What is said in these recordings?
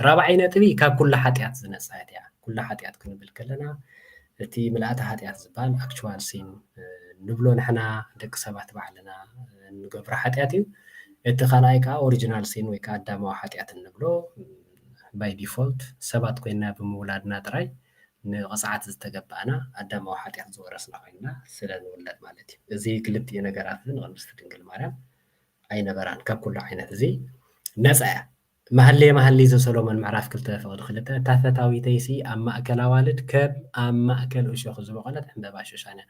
ራብዓይ ነጥቢ ካብ ኩሉ ሓጢኣት ዝነፃት እያ ኩሉ ሓጢኣት ክንብል ከለና እቲ ምልኣተ ሓጢኣት ዝበሃል ኣክቹዋል ሲን ንብሎ ንሕና ደቂ ሰባት ባዕልና እንገብሮ ሓጢኣት እዩ እቲ ካልኣይ ከዓ ኦሪጂናል ሲን ወይ ከዓ ኣዳማዊ ሓጢኣት እንብሎ ባይ ዲፎልት ሰባት ኮይና ብምውላድና ጥራይ ንቕፅዓት ዝተገባእና ኣዳማዊ ሓጢኣት ዝወረስና ኮይና ስለ ንውለድ ማለት እዩ እዚ ክልቲኡ ነገራት እዚ ንቅድስቲ ድንግል ማርያም ኣይነበራን ካብ ኩሉ ዓይነት እዚ ነፃ እያ መሃሌ መሃሊ ዘሰሎሞን ምዕራፍ ክልተ ፍቕዲ ክልተ እታ ፈታዊተይሲ ኣብ ማእከል ኣዋልድ ከም ኣብ ማእከል እሾኽ ዝበቖለት ዕምበባ ሹሻን እያ።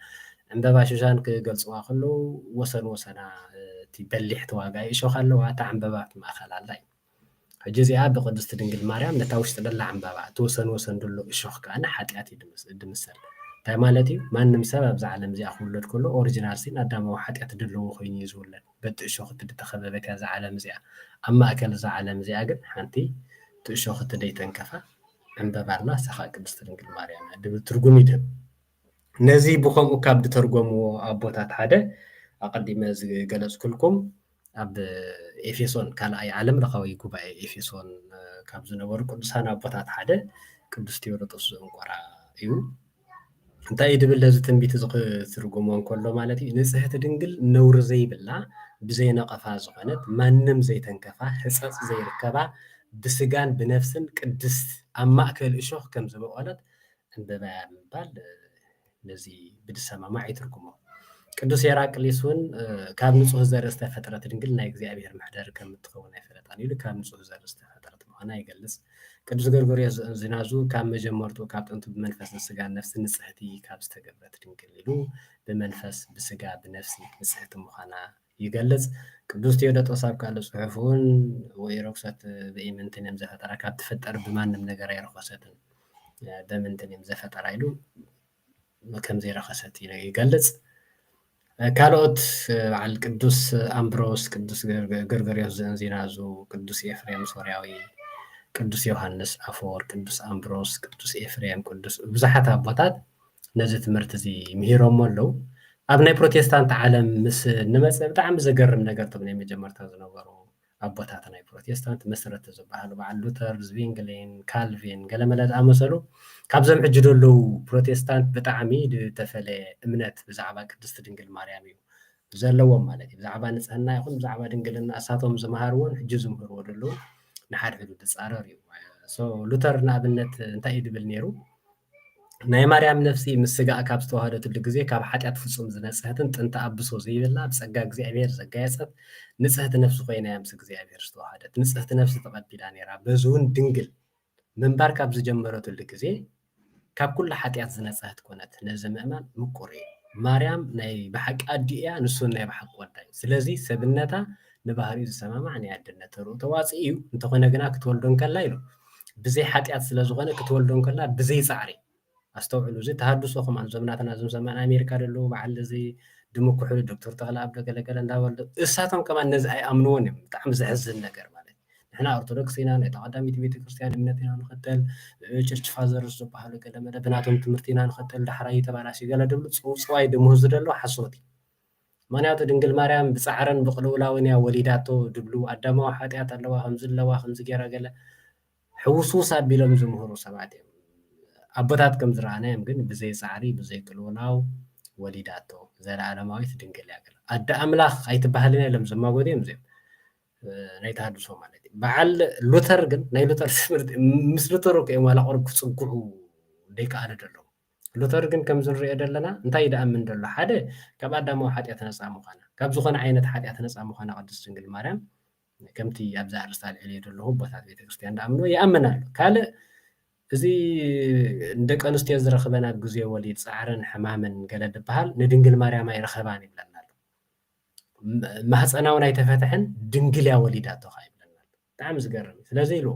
ዕምበባ ሹሻን ክገልጽዋ ከለዉ ወሰን ወሰና እቲ በሊሕ ተዋጋኢ እሾኽ ኣለዋ፣ እታ ዕምበባ ኣብቲ ማእከል ኣላ ኢሉ። ሕጂ እዚኣ ብቕድስቲ ድንግል ማርያም ነታ ውሽጢ ደላ ዕምበባ እቲ ወሰን ወሰን ደሎ እሾኽ ከኣ ንሓጢኣት እዩ ድምሰል። እንታይ ማለት እዩ? ማንም ሰብ ኣብዛ ዓለም እዚኣ ክውለድ ከሎ ኦርጅናል ሲን ኣዳማዊ ሓጢኣት ደለዎ ኮይኑ እዩ ዝውለድ። በቲ እሾኽቲ ድተኸበበት እያ እዛ ዓለም እዚኣ። ኣብ ማእከል እዛ ዓለም እዚኣ ግን ሓንቲ እቲ እሾኽቲ ደይተንከፋ ዕምበባ ኣላ እሳ ከኣ ቅድስቲ ድንግል ማርያም እያ ድብል ትርጉም ይድህብ። ነዚ ብኸምኡ ካብ ድተርጎምዎ ኣቦታት ሓደ ኣቐዲመ ዝገለጽኩልኩም ኣብ ኤፌሶን ካልኣይ ዓለም ለኻዊ ጉባኤ ኤፌሶን ካብ ዝነበሩ ቅዱሳን ኣቦታት ሓደ ቅዱስ ቴዎዶጦስ ዘእንቆራ እዩ። እንታይ እዩ ድብል ነዚ ትንቢት እዚ ክትርጉሞ እንከሎ ማለት እዩ ንጽሕቲ ድንግል ነውሪ ዘይብላ ብዘይ ነቐፋ ዝኾነት ማንም ዘይተንከፋ ሕጸጽ ዘይርከባ ብስጋን ብነፍስን ቅድስት ኣብ ማእከል እሾኽ ከም ዝበቖለት ዕምበባ እያ ምባል ነዚ ብድሰማማዕ ይትርጉሞ ቅዱስ ሄራቅሊስ እውን ካብ ንጹህ ዘርኢ ዝተፈጥረት ድንግል ናይ እግዚኣብሔር መሕደሪ ከም እትኸውን ኣይፈለጣን ኢሉ ካብ ንጹህ ዘርኢ ዝተፈጥረት ምዃና ይገልጽ ቅዱስ ገርጎርዮስ ዘእንዚናዙ ካብ መጀመርትኡ ካብ ጥንቱ ብመንፈስን ስጋን ነፍስን ንጽሕቲ ካብ ዝተገብረት ድንግል ኢሉ ብመንፈስ ብስጋ ብነፍሲ ንጽሕቲ ምዃና ይገልጽ። ቅዱስ ቴዎዶጦስ ኣብ ካልእ ጽሑፍ እውን ወኢረኩሰት በኢምንትኔም ዘፈጠራ ካብ ትፍጠር ብማንም ነገር ኣይረኾሰትን በምንትኔም ዘፈጠራ ኢሉ ከምዘይረኸሰት ይገልጽ። ካልኦት በዓል ቅዱስ ኣምብሮስ፣ ቅዱስ ገርገርዮስ ዘእንዚናዙ፣ ቅዱስ ኤፍሬም ሶርያዊ፣ ቅዱስ ዮሃንስ ኣፈወርቅ፣ ቅዱስ ኣምብሮስ፣ ቅዱስ ኤፍሬም፣ ቅዱስ ብዙሓት ኣቦታት ነዚ ትምህርቲ እዚ ምሂሮሞ ኣለዉ። ኣብ ናይ ፕሮቴስታንት ዓለም ምስ ንመጽእ ብጣዕሚ ዘገርም ነገር እቶም ናይ መጀመርታ ዝነበሩ ኣቦታት ናይ ፕሮቴስታንት መሰረቲ ዝበሃሉ በዓል ሉተር፣ ዝቪንግሊን፣ ካልቪን ገለመለ ዝኣመሰሉ ካብዞም ሕጂ ዘለዉ ፕሮቴስታንት ብጣዕሚ ዝተፈለየ እምነት ብዛዕባ ቅድስቲ ድንግል ማርያም እዩ ዘለዎም ማለት እዩ። ብዛዕባ ንጽህና ይኹን ብዛዕባ ድንግልና እሳቶም ዝመሃርዎን ሕጂ ዝምህርዎ ዘለዉ ንሓድሕዱ ዝጻረር እዩ። ሶ ሉተር ንኣብነት እንታይ እዩ ዝብል ነይሩ? ናይ ማርያም ነፍሲ ምስ ስጋኣ ካብ ዝተዋህደትሉ ግዜ ካብ ሓጢኣት ፍጹም ዝነጽሀትን ጥንተ ኣብሶ ዘይብላ ብጸጋ እግዚኣብሔር ዘጋየጸት ንጽህቲ ነፍሲ ኮይናያ ምስ እግዚኣብሔር ዝተዋሃደት ንጽህቲ ነፍሲ ተቐቢላ ነይራ በዝውን ድንግል ምንባር ካብ ዝጀመረትሉ ግዜ ካብ ኩሉ ሓጢኣት ዝነጽሀት ኮነት ነዚ ምእማን ምቁር እዩ ማርያም ናይ ብሓቂ ኣዲኡ እያ ንሱን ናይ ብሓቂ ወዳ እዩ ስለዚ ሰብነታ ንባህሪኡ ዝሰማማዕ ናይ ኣደነት ተርኡ ተዋጽእ እዩ፣ እንተኾነ ግና ክትወልዶ እንከላ ኢሉ ብዘይ ሓጢኣት ስለ ዝኾነ ክትወልዶ እንከላ ብዘይ ጻዕሪ ኣስተውዕሉ እዚ ተሃድሶ ከማን እዞም ናትና እዞም ሰማን ኣሜሪካ ደለዉ በዓል እዚ ድሙ ኩሕሉ ዶክተር ተኽለኣብ ዶ ገለገለ እንዳበሉ እሳቶም ከማን ነዚ ኣይኣምንዎን እዮም ብጣዕሚ ዘሕዝን ነገር ማለት ንሕና ኦርቶዶክስ ኢና ናይታ ቀዳሚት ቤተክርስትያን እምነት ኢና ንኸተል ቸርች ፋዘርስ ዝበሃሉ ገለ መለ ብናቶም ትምህርቲ ኢና ንኸተል ዳሕራይ ተባላሲ ገለ ድብሉ ጽውጽዋይ ድምህዙ ደለዉ ሓሶት እዩ ምክንያቱ ድንግል ማርያም ብጻዕርን ብቅልውላውን እያ ወሊዳቶ ድብሉ ኣዳማዊ ሓጥያት ኣለዋ ከምዚ ኣለዋ ከምዚ ጌራ ገለ ሕውስውስ ኣቢሎም ዝምህሩ ሰባት እዮም ኣቦታት ከም ዝረኣናዮም ግን ብዘይ ጻዕሪ ብዘይ ቅልውላው ወሊዳቶ ዘለኣለማዊት ድንግል እያ ገለ ኣደ ኣምላኽ ኣይትበሃልን እያ ኢሎም ዝማጎቱ እዮም እዚኦም ናይ ተሃድሶ ማለት በዓል ሉተር ግን ናይ ሉተር ትምህርቲ ምስ ሉተር እኮ እዮም ዋላ ቁሩብ ክጽግዑ ዘይከኣሉ ደለዉ ሉተር ግን ከምዚ ንሪኦ ዘለና እንታይ እዩ ደኣምን ደሎ ሓደ ካብ ኣዳማዊ ሓጢኣት ነጻ ምዃና ካብ ዝኾነ ዓይነት ሓጢኣት ነጻ ምዃና ቅድስት ድንግል ማርያም ከምቲ ኣብዚ ኣርእስቲ ኣልዕልዮ ዘለኹ ኣቦታት ቤተክርስትያን ደኣምንዎ ይኣምን ኣሎ ካልእ እዚ ንደቂ ኣንስትዮ ዝረኽበን ኣብ ግዜ ወሊድ ፃዕርን ሕማምን ገለ ድበሃል ንድንግል ማርያም ኣይረኸባን ይብለና ኣሎ ማህፀናውን ኣይተፈትሐን ድንግል እያ ወሊዳቶ ከዓ ይብለና ኣሎ ብጣዕሚ ዝገርም እዩ ስለዚ ኢሉ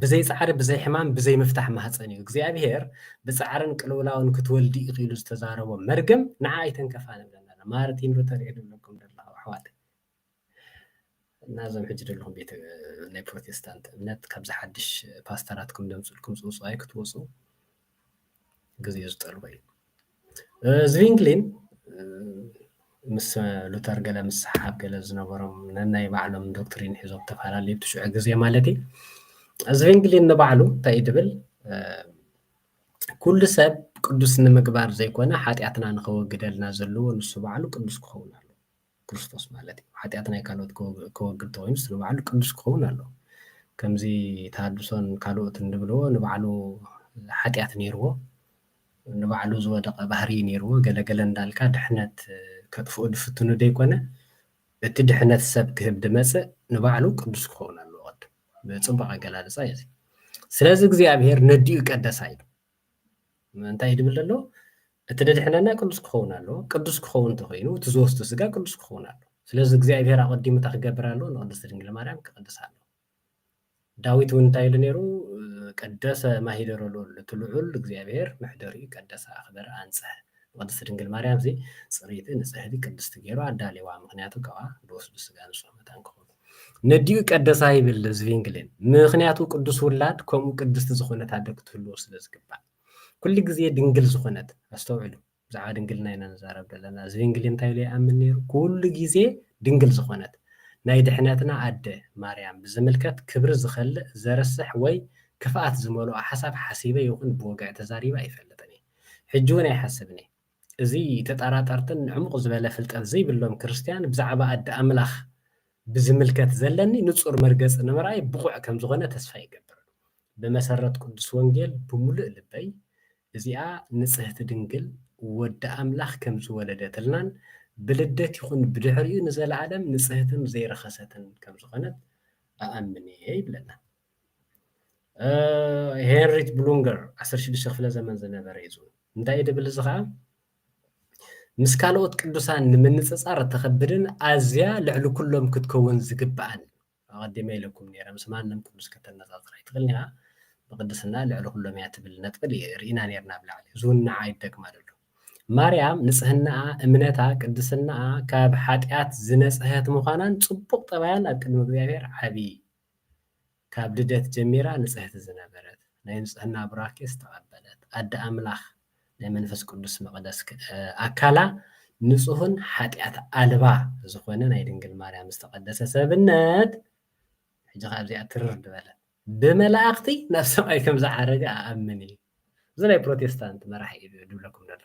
ብዘይ ጻዕሪ ብዘይ ሕማም ብዘይ ምፍታሕ ማህጸን እዩ እግዚኣብሄር ብጻዕርን ቅልውላውን ክትወልዲ ኢኺ ኢሉ ዝተዛረቦ መርገም ንዓ ኣይተንከፋ ንብለና ማርቲን ሉተር እዩ ድብለኩም ደለኹ ኣሕዋተይ እና እዞም ሕጂ ደለኹም ቤተ ናይ ፕሮቴስታንት እምነት ካብዚ ሓድሽ ፓስተራትኩም ደምፅልኩም ፅውፅዋይ ክትወፁ ግዜኡ ዝጠልቦ እዩ። ዝቪንግሊን ምስ ሉተር ገለ ምስሓብ ገለ ዝነበሮም ነናይ ባዕሎም ዶክትሪን ሒዞም ተፈላለዩ እቲ ሽዑ ግዜ ማለት እዩ ዝቪንግሊን ንባዕሉ እንታይ እዩ ድብል ኩሉ ሰብ ቅዱስ ንምግባር ዘይኮነ ሓጢኣትና ንኸወግደልና ዘለዎ ንሱ ባዕሉ ቅዱስ ክኸውን ኣለዎ ክርስቶስ ማለት እዩ። ሓጢኣት ናይ ካልኦት ከወግድ ተኾይኑስ ንባዕሉ ቅዱስ ክኸውን ኣለዎ። ከምዚ ተሃድሶን ካልኦትን ዝብልዎ ንባዕሉ ሓጢኣት ነይርዎ ንባዕሉ ዝወደቐ ባህርይ ነይርዎ ገለ ገለ እንዳልካ ድሕነት ከጥፍኡ ዝፍትኑ ዘይኮነ እቲ ድሕነት ሰብ ክህብ ዝመጽእ ንባዕሉ ቅዱስ ክኸውን ኣለዎ ቅድም። ጽቡቕ ኣገላልጻ እዩ እዚ። ስለዚ እግዚኣብሔር ነዲኡ ቀደሳ ኢሉ እንታይ እዩ ድብል ዘሎ እቲ ደድሕነና ቅዱስ ክኸውን ኣለዎ ቅዱስ ክኸውን እንተኮይኑ እቲ ዝወስዱ ስጋ ቅዱስ ክኸውን ኣለዎ ስለዚ እግዚኣብሄር ኣቐዲሙ እንታይ ክገብር ኣለዎ ንቅድስቲ ድንግል ማርያም ክቅድስ ኣለዎ ዳዊት እውን እንታይ ኢሉ ነይሩ ቀደሰ ማሂደሮ ልዑል እቲ ልዑል እግዚኣብሄር መሕደሪኡ ቀደሰ ኣኽበረ ኣንፅሐ ንቅድስቲ ድንግል ማርያም እዚ ፅርይቲ ንፅህቲ ቅድስቲ ገይሩ ኣዳልዋ ምክንያቱ ካብኣ ዝወስዱ ስጋ ንፁህ መታን ክኸውን ነዲኡ ቀደሳ ይብል ዝቪንግሌን ምክንያቱ ቅዱስ ውላድ ከምኡ ቅድስቲ ዝኾነት ኣደ ክትህልዎ ስለ ዝግባእ ኩሉ ግዜ ድንግል ዝኾነት ኣስተውዕሉ ብዛዕባ ድንግልና ኢና ንዛረብ ዘለና ዝቪንግሌን እንታይ ኢሉ ይኣምን ነይሩ ኩሉ ግዜ ድንግል ዝኾነት ናይ ድሕነትና ኣደ ማርያም ብዝምልከት ክብሪ ዝኸልእ ዘርስሕ ወይ ክፍኣት ዝመልኦ ሓሳብ ሓሲበ ይኹን ብወግዒ ተዛሪበ ኣይፈልጥን እየ ሕጂ እውን ኣይሓስብን እየ እዚ ተጠራጠርትን ዕሙቕ ዝበለ ፍልጠት ዘይብሎም ክርስትያን ብዛዕባ ኣደ ኣምላኽ ብዚምልከት ዘለኒ ንጹር መርገጺ ንምርኣይ ብቑዕ ከም ዝዀነ ተስፋ ይገብር። ብመሰረት ቅዱስ ወንጌል ብምሉእ ልበይ እዚኣ ንጽህቲ ድንግል ወዲ ኣምላኽ ከም ዝወለደትልናን ብልደት ይኹን ብድሕሪኡ ንዘለኣለም ንጽህትን ዘይረኸሰትን ከም ዝዀነት እኣምን እየ ይብለና። ሄንሪት ብሉንገር 16 ክፍለ ዘመን ዝነበረ እዩ ዝብል እንታይ ድብል እዚ ከዓ ምስ ካልኦት ቅዱሳን ንምንፅፃር እተኸብድን ኣዝያ ልዕሊ ኩሎም ክትከውን ዝግብኣን ኣቐዲመ ኢለኩም ነረ ምስ ማንም ቅዱስ ከተነፃፅር ኣይትኽእልን ኢኻ ብቅድስና ልዕሊ ኩሎም እያ ትብል ነጥቢ ርኢና ነርና ኣብ ላዕሊ እዚ እውን ንዓ ይደግማል ኣሎ ማርያም ንፅህናኣ እምነታ ቅድስናኣ ካብ ሓጢኣት ዝነፅሀት ምዃናን ፅቡቕ ጠባያን ኣብ ቅድሚ እግዚኣብሔር ዓብዪ ካብ ልደት ጀሚራ ንጽህቲ ዝነበረት ናይ ንጽህና ቡራኬ ዝተቀበለት ኣደ ኣምላኽ ናይ መንፈስ ቅዱስ መቅደስ ኣካላ ንጹህን ሓጢኣት ኣልባ ዝኾነ ናይ ድንግል ማርያም ዝተቀደሰ ሰብነት ሕጂ ከኣ ኣብዚኣ ትርር ድበለ ብመላእኽቲ ናብ ሰማይ ከም ዝዓረገ ኣኣምን እዩ እዚ ናይ ፕሮቴስታንት መራሒ እዩ ድብለኩም ደሎ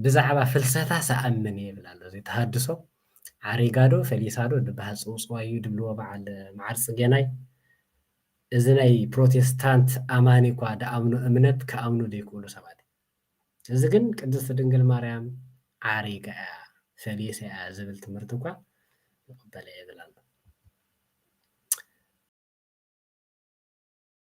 ብዛዕባ ፍልሰታስ ኣኣምን እየ ይብል ኣሎ እዚ ተሃድሶ ዓሪጋዶ ፈሊሳዶ ድባሃል ጽውጽዋይ እዩ ድብልዎ በዓል መዓር ጽጌናይ እዚ ናይ ፕሮቴስታንት ኣማኒ እኳ ድኣምኖ እምነት ክኣምኑ ድይክእሉ ሰባት እዩ እዚ ግን ቅድስቲ ድንግል ማርያም ዓሪጋ እያ ፈሊሳ እያ ዝብል ትምህርቲ እኳ ይቕበል እየ ይብል ኣሎ